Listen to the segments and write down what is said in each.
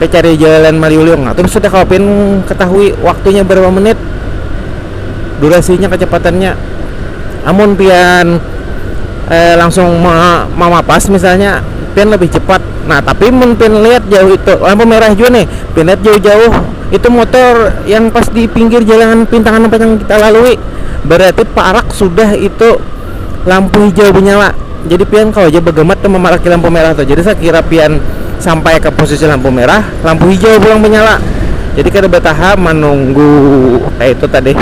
Pacari jalan maliuliung. Atau sudah kawa pian katahui waktunya barapa menit, durasinya, kacapatannya. Amun pian langsung mamapas misalnya pian lebih cepat. Nah, tapi mun pian lihat jauh itu lampu merah jua nih, pian lihat jauh-jauh itu motor yang pas di pinggir jalan pintangan yang kita lalui, berarti parak sudah itu. lampu hijau benyala jadi pian kawa ja bagamat tu mamaraki lampu merah tu jadi sakira pian sampai ka posisi lampu merah lampu hijau pulang benyala jadi kada bataha manunggu kaya itu tadi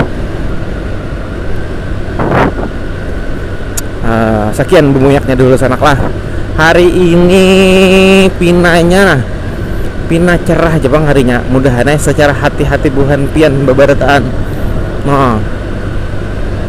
um sakian bumuyak nya dulu sanak lah hari ini pina nya nah pina cerah ja pang hari nya mudahan ai sacara hati-hati buhan pian babarataan um.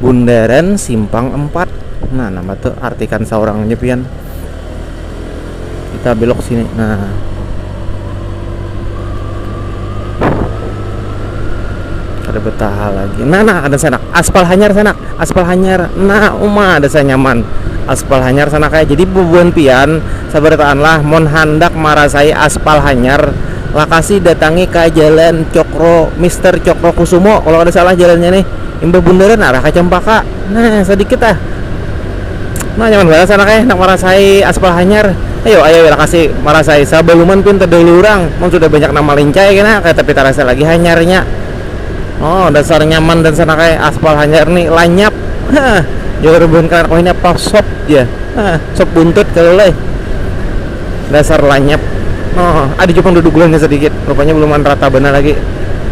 Bundaran simpang empat. Nah, nama tuh artikan saurangnya pian. Kita belok sini. Nah. Ada betaha lagi. Nah, nah ada sanak. Aspal hanyar sanak. Aspal hanyar. Nah, uma ada saya nyaman. Aspal hanyar sanak kayak. Jadi bubuhan pian sabarataan lah mon handak marasai aspal hanyar lakasi datangi ke jalan Cokro Mister Cokro Kusumo kalau ada salah jalannya nih Imbah bundaran arah ka Cempaka, nah sadikit ah. Nah nyaman banar sana keh handak marasai aspal hanyar. Ayo ayo lakasi marasai sabaluman pian tadahulu urang. Mun sudah banyak nang malincai kena kaya tapi tarasa lagi hanyarnya. Oh dasar nyaman dan sana keh aspal hanyar ni lanyap. Hah jar buhan kalanak wahini apa sop jar. Hah sop buntut kalu leh. Dasar lanyap. Oh ada jua pang duduguannya sadikit, rupanya buluman rata banar lagi.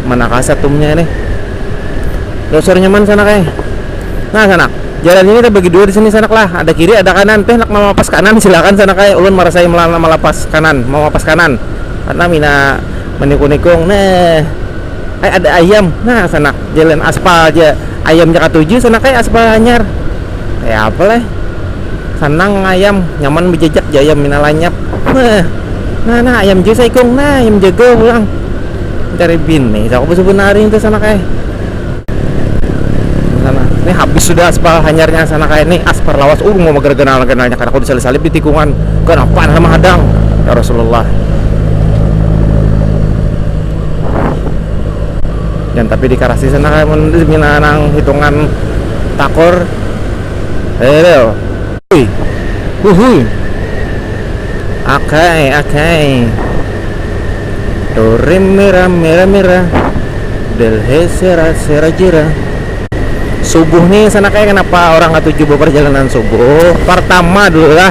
Mana kaset umnya nih. Dasar nyaman sanak eh. Nah sanak, jalan ini terbagi dua di sini sanak lah, ada kiri ada kanan, peh nak mamapas kanan silakan sanak eh, ulun marasai melana malapas kanan, mamapas kanan, karna mina manikung-nikung, neh ai ada ayam, nah sanak, jalan aspal ja, ayam ja katuju sanak eh, aspal hanyar, kaya apa leh, sanang ayam, nyaman bejajak ja ayam mina lanyap, neh, nah nah ayam jua saikung, nah ayam jago pulang. cari bini cakap bisa benari itu sana kayak sana ini habis sudah aspal hanyarnya sana kayak ini aspar lawas uh mau mager kenal kenalnya karena aku disalip salip di tikungan kenapa nama hadang ya Rasulullah dan tapi di karasi sana kayak menurut mina nang hitungan takur hello uhui uhui oke okay, oke okay. Do re mi ra mi ra mi ra Del he se ra se ra ji ra Subuh nih sana kayak kenapa orang katuju beperjalanan subuh Pertama dulu lah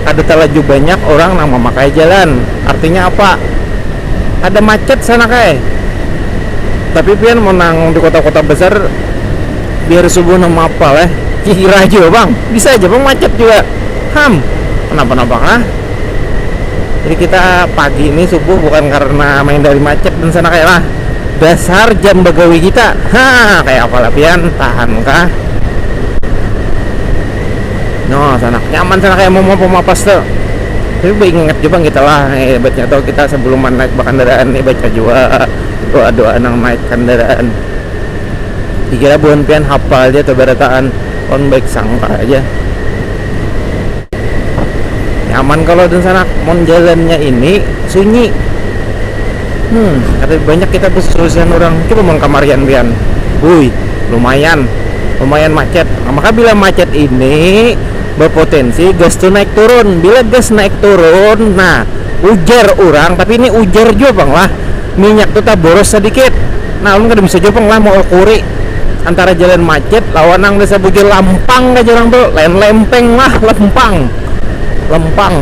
Ada terlaju banyak orang nang memakai jalan Artinya apa? Ada macet sana kay Tapi pian mun nang di kota-kota besar Di hari subuh nang meapa leh Kira jua pang Bisa aja pang macet jua Ham Kenapa-napa kah? jadi kita pagi ini subuh bukan karena main dari macet dan sana kayak lah dasar jam begawi kita ha kayak apa lapian tahan kah no sana nyaman sana kayak mau mau apa tuh tapi ingat juga kita lah eh, baca tau kita sebelum naik kendaraan nih baca juga doa doa nang naik kendaraan dikira buan pian hafal aja tuh barataan on baik sangka aja nyaman kalau dan sanak mon jalannya ini sunyi hmm ada banyak kita bersusian orang coba mon kamarian pian hui lumayan lumayan macet nah, maka bila macet ini berpotensi gas tuh naik turun bila gas naik turun nah ujar orang tapi ini ujar juga bang lah minyak tuh tak boros sedikit nah ulun kada bisa juga bang lah mau kuri antara jalan macet lawan nang biasa bujur lampang jar urang tu lain lempeng lah lempang lempang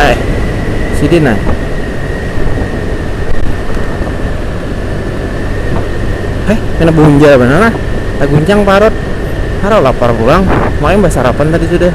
eh sidin nah eh kena bunjal benar lah taguncang parut Haro lapar pulang, makanya basarapan tadi sudah.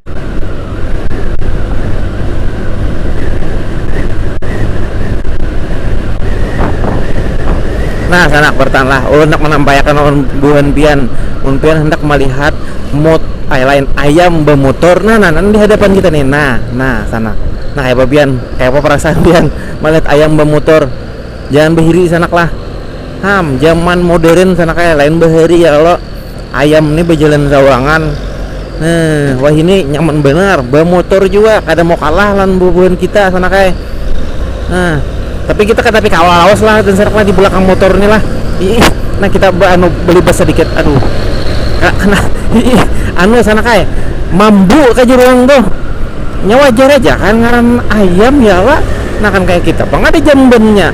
Nah, sanak bertahanlah. Ulun handak manampaiakan lawan buhan pian, mun pian handak malihat mot ai lain ayam bamutur, nah nah nang di hadapan kita nih, nah nah sanak. Nah kayapa pian, kayapa parasaan pian malihat ayam bamutur, jangan bahiri sanak lah. Ham, jaman modern sanak ai, lain bahari ya kalo. Ayam ni bajalan sawangan. Heh, wahini nyaman banar, bamotor jua, kada mau kalah lawan bubuhan kita sana kai. Nah, tapi kita kada tapi kawa lawas lah Tenserak lah di belakang motor ni lah. Iih, nah kita baanu balibas sadikit. Aduh, ka- kana iih anu sana kai mambu ka jar urang tuh. Nya wajar aja kan ngaran ayam ya kah, nah kan kaya kita pang kada jambannya.